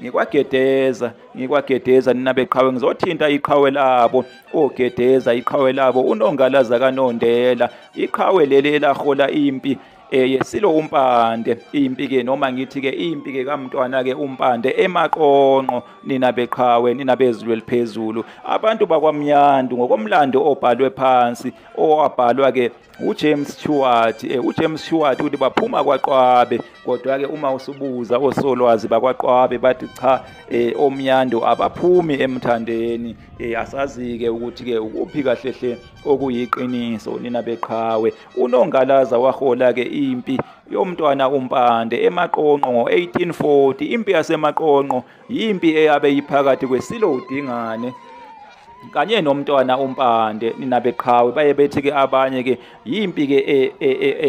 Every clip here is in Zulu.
ngikwagedeza ngikwagedeza nina beqhawe ngizothinta iqhawe labo ogedeza iqhawe labo unongalaza kanondela iqhawe leli elahola impi eh yesilo umpande impi ke noma ngithi ke impi ke kamntwana ke umpande emaqonqo nina beqhawe nina bezulu eliphezulu abantu bakwamnyandu ngokomlando obhalwe phansi owabhalwa ke uJames Stewart eh, uJames Stewart uthi baphuma kwaQwabe kodwa ke uma usubuza osolwazi bakwaQwabe bathi cha eh, omnyando abaphumi emthandeni eh, asazi ke ukuthi ke ukuphi kahle hle okuyiqiniso nina beqhawe unongalaza wahola ke impi yomntwana uMpande emaqonqo ngo-1840 impi yasemaqonqo yimpi eyabe iphakathi kweSilo uDingane kanye nomntwana umpande nina beqhawe baye bethi ke abanye ke yimpi ke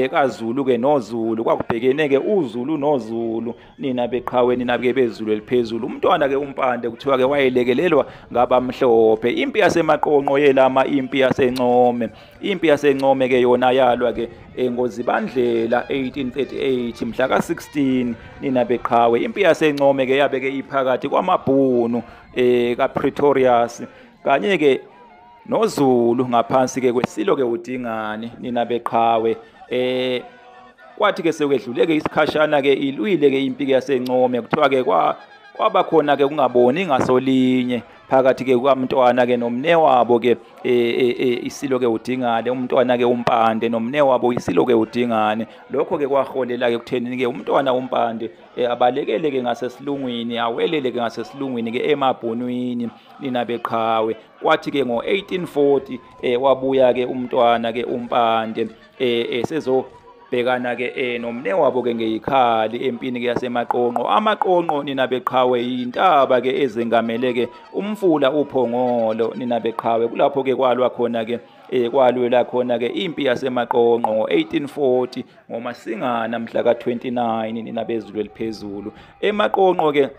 ekaZulu ke noZulu kwakubhekene ke uZulu noZulu nina beqhawe nina ke beZulu eliphezulu umntwana ke umpande kuthiwa ke wayelekelelwa ngabamhlophe impi yasemaqonqo yelama impi yasencome impi yasencome ke yona yalwa ke engozibandlela 1838 mhla ka 16 nina beqhawe impi yasencome ke yabe ke iphakathi kwamabhunu eh ka Pretorius kanye ke noZulu ngaphansi ke kwesilo ke udingani nina beqhawe eh kwathi ke sekwedluleke isikhashana ke ilwile ke impike yasencome kuthiwa ke kwa kwaba khona ke kungaboni ngasolinye phakathi ke kwamntwana ke nomne wabo ke e, e, e, isilo ke udingane umntwana ke umpande nomne wabo isilo ke udingane lokho ke kwaholela ke kutheni ke umntwana umpande Eh, abalekeleke ngasesilungwini aweleleke ngasesilungwini ke emabhonwini nina beqhawe kwathi ke ngo-1840 eh, wabuya ke umntwana ke umpande eh, eh, sezo bhekana ke eh nomne wabo ke ngeyikhali empini ke yasemaqonqo amaqonqo nina beqhawe yintaba ke ezengamele ke umfula uphongolo nina beqhawe kulapho ke kwalwa khona ke eh kwalwela khona ke impi yasemaqonqo ngo1840 ngomasingana mhla ka-29 nina bezulu eliphezulu emaqonqo ke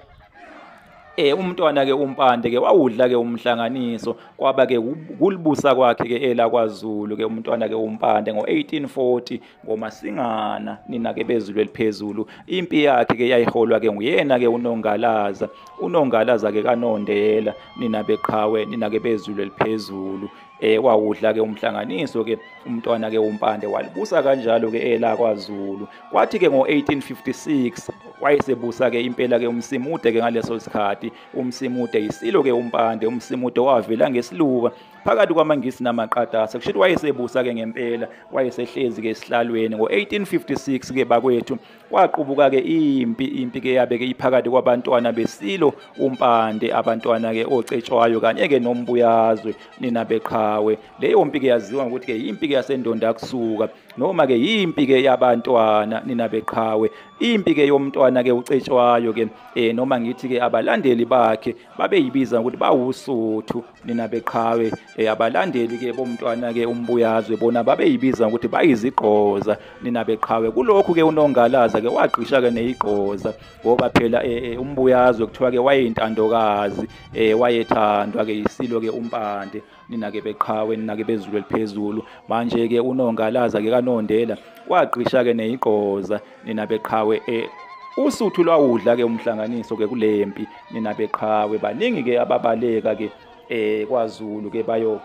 eh umntwana ke umpande ke wawudla ke umhlanganiso kwaba ke kulibusa kwakhe ke ela kwaZulu ke umntwana ke umpande ngo1840 ngomasingana nina ke bezulu eliphezulu impi yakhe ke yayiholwa ke nguyena ke unongalaza unongalaza ke kanondela nina beqhawe nina ke bezulu eliphezulu eh wawudla ke umhlanganiso ke umntwana ke umpande walibusa kanjalo ke ela kwaZulu kwathi ke ngo1856 wayesebusa ke impela ke umsimude ke ngaleso sikhathi umsimude isilo ke umpande umsimude wavela ngesiluka phakathi kwamangisi namaqatasa kusho ukuthi wayesebusa ke ngempela wayesehlezi ke esihlalweni ngo1856 ke bakwethu Kwaqubuka-ke impi, impi-ke yabe-ke iphakathi kwabantwana beSilo uMpande, abantwana-ke oCetshwayo kanye-ke noMbuyazwe nina beqhawe. Leyo mpi-ke yaziwa ngokuthi-ke yimpi-ke yasendondakusuka noma-ke yimpi-ke yabantwana nina beqhawe. Impi-ke yomntwana-ke uCetshwayo-ke eh, noma ngithi-ke abalandeli bakhe babeyibiza ngokuthi bawuSuthu nina beqhawe. eyabalandeli-ke bomntwana-ke umbuyazwe bona babeyibiza ngokuthi bayizigqoza nina beqhawe kulokhu-ke unongalaza-ke wagqisha-ke neyigqoza ngoba phela um umbuyazwe kuthiwa-ke wayeyintandokazi um wayethandwa-ke yisilo-ke umpande nina-ke beqhawe nina-ke bezulu eliphezulu manje-ke unongalaza-ke kanondela wagqisha-ke neyigqoza nina beqhawe um usuthu lwawudla-ke umhlanganiso-ke kule mpi nina beqhawe baningi-ke ababaleka-ke eh kwaZulu ke bayo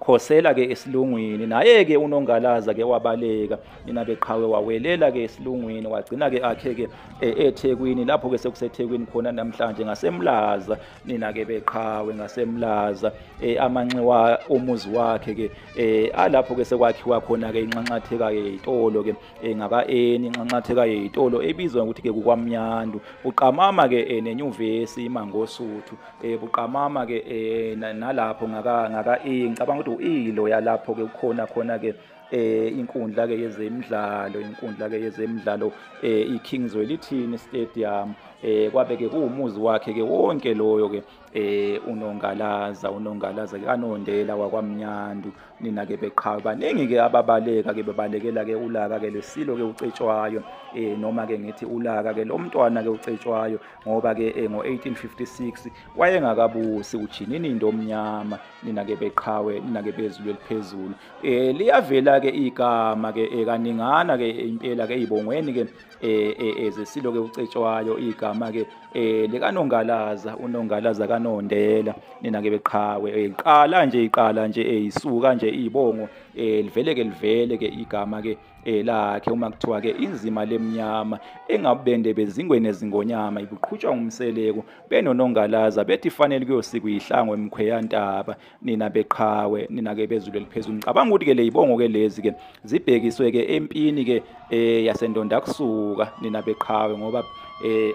khosela ke esilungwini naye ke unongalaza ke wabaleka nina beqhawe wawelela ke esilungwini wagcina ke akhe ke e, eThekwini lapho ke sekuseThekwini khona namhlanje ngasemlaza nina ke beqhawe ngasemlaza e, amanxiwa umuzi wakhe ke e, alapho ke sekwakhiwa khona ke inxanxatheka ke itolo ke eh, ngaka-eni inxanxatheka yeyitolo ebizwa ngokuthi ke kukwamnyandu buqamama ke eh, nenyuvesi imangosuthu eh, buqamama ke eh, na- nalapho ngaka- ngaka-e ngicabanga ukuthi u-ilo yalapho ke kukhona khona ke eh inkundla ke yezemidlalo inkundla ke yezemidlalo eh iKing's Welithini Stadium eh kwabe ke kuwumuzi wakhe ke wonke loyo ke eh unongalaza unongalaza ke anondela wakwamnyandu nina ke beqhawe baningi ke ababaleka ke bebalekela ke ulaka ke lesilo ke ucetshwayo eh noma ke ngithi ulaka ke lomntwana ke ucetshwayo ngoba ke eh, ngo1856 wayengakabusi ujinini into omnyama nina ke beqhawe nina ke bezulu eliphezulu eh liyavela ke igama ke eh, kaningana ke impela ke izibongweni ke eh, eh, ezesilo ke ucetshwayo igama ke eh likanongalaza unongalaza kanondela nina ke beqhawe eh, iqala nje iqala nje eh, isuka nje izibongo eh, livele ke livele ke igama ke lakhe uma kuthiwa ke inzima lemnyama engabende bezingweni ezingonyama ibuqhutshwa ngumseleku benonongalaza bethi fanele kuyosikwa ihlango emkhweyantaba nina beqhawe nina ke bezulu eliphezulu ngicabanga ukuthi ke lezibongo ke lezi ke zibhekiswe ke empini ke eh yasendonda kusuka nina beqhawe ngoba eh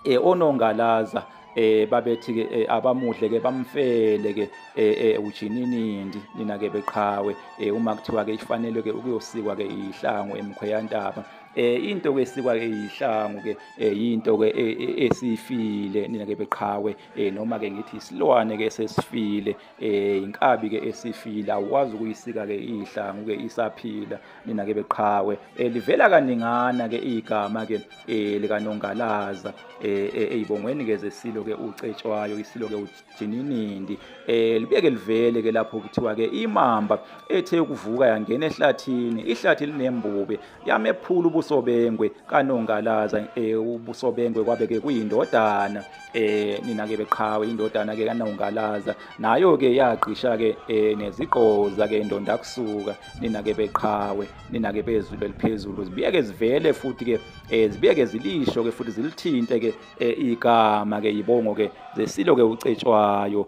eh onongalaza eh babethi ke eh, abamuhle ke bamfele ke eh, eh ujininindi nina ke beqhawe eh, uma kuthiwa ke ifanelwe ke ukuyosikwa ke ihlango emkhweyantaba eh into ke sikwa ke ihlango ke yinto ke e, e, esifile nina ke beqhawe eh noma ke ngithi isilwane ke sesifile eh inkabi ke esifile awukwazi ukuyisika ke ihlangu ke isaphila nina ke beqhawe eh livela kaningana ke igama ke eh likanongalaza eh, eh eyibongweni ke zesilo ke ucetshwayo isilo ke ujininindi eh libeke livele ke lapho kuthiwa ke imamba ethe ukuvuka yangena ehlathini ihlathi linembubi yamephula ubusobengwe kanongalaza eh ubusobengwe kwabe ke kuyindodana eh nina ke beqhawe indodana ke kanongalaza nayo ke yagqisha ke eh nezigqoza ke indonda kusuka nina ke beqhawe nina ke bezulu eliphezulu zibiyeke zivele futhi ke eh zibiyeke zilisho ke futhi zilithinte ke eh, igama ke yibongo ke zesilo ke ucetshwayo